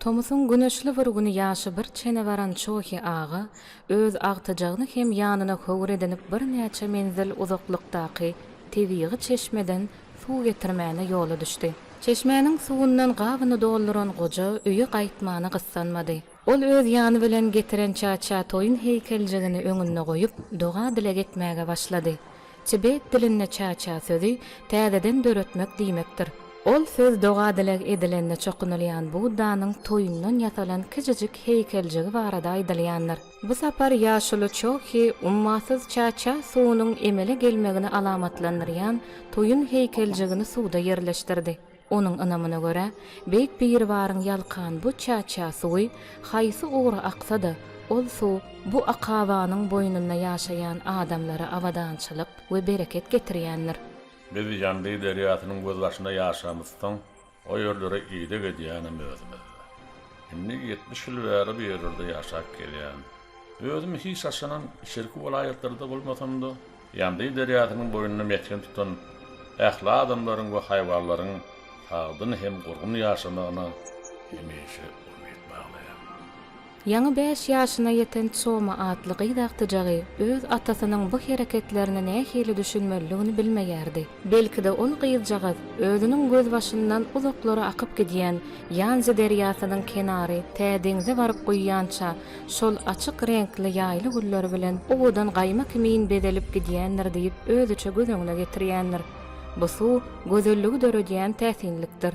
Tomusyň güneşli bir güni ýaşy bir çene baran Çohi aga öz agtyjagyny hem ýanyna höwür edinip birnäçe menzil uzaklykdaky tebigy çeşmeden suw getirmäne ýola düşdi. Çeşmäniň suwundan gabyny dolduran goja öýe gaýtmana gyssanmady. Ol öz ýany bilen getiren Çaçatoýyň heýkeljigini öňünde goýup, doga-dileg etmäge başlady. Tibet dilinde çaça sözi täzeden döretmek diýmekdir. Ol söz doga-dileg edilende çokunylýan Buddanyň toýundan ýasalan kiçijik heýkeljigi barada aýdylýandyr. Bu sapar ýaşuly Çohi ummasyz çaça suwunyň emele gelmegini alamatlandyrýan toýun heýkeljigini suwda ýerleşdirdi. Onuň ynamyna görä, Beýik Biribaryň ýalkan bu çäçä suwy haýsy ugra aksa-da, ol suw bu akabanyň boýnunda ýaşaýan adamlara abadançylyk we bereket getirýändir. Biz Ýandy derýasynyň gözbaşynda ýaşamyzsoň, o ýerlere ideg edýänem özümiz-de. Indi ýetmiş ýyl bäri bu ýerlerde ýaşap gelýän. Özüm hiç haçanam içerki welaýatlarda bolmasam-da, Ýandeý derýasynyň boýunda mesgen tutan ähli adamlaryň we haýwanlaryň sagdyn hem gurgun ýaşamagyna hemişe umyt baglaýar. Ýaňy bäş ýaşyna ýeten Çoma atly gyz agtyjagy öz atasynyň bu hereketlerine nähili düşünmelidigini bilmeýärdi. Belki-de ol gyzjagaz özüniň gözbaşyndan uzaklara akyp gidýän Ýanzi derýasynyň kenary tä deňze baryp guýýança şol açyk reňkli ýaýly gülleri bilen owadan gaýma kimin bezelip gidýändir diýip özüçe göz öňüne getirýändir. Bu suw gözelligi döredýän täsinlikdir.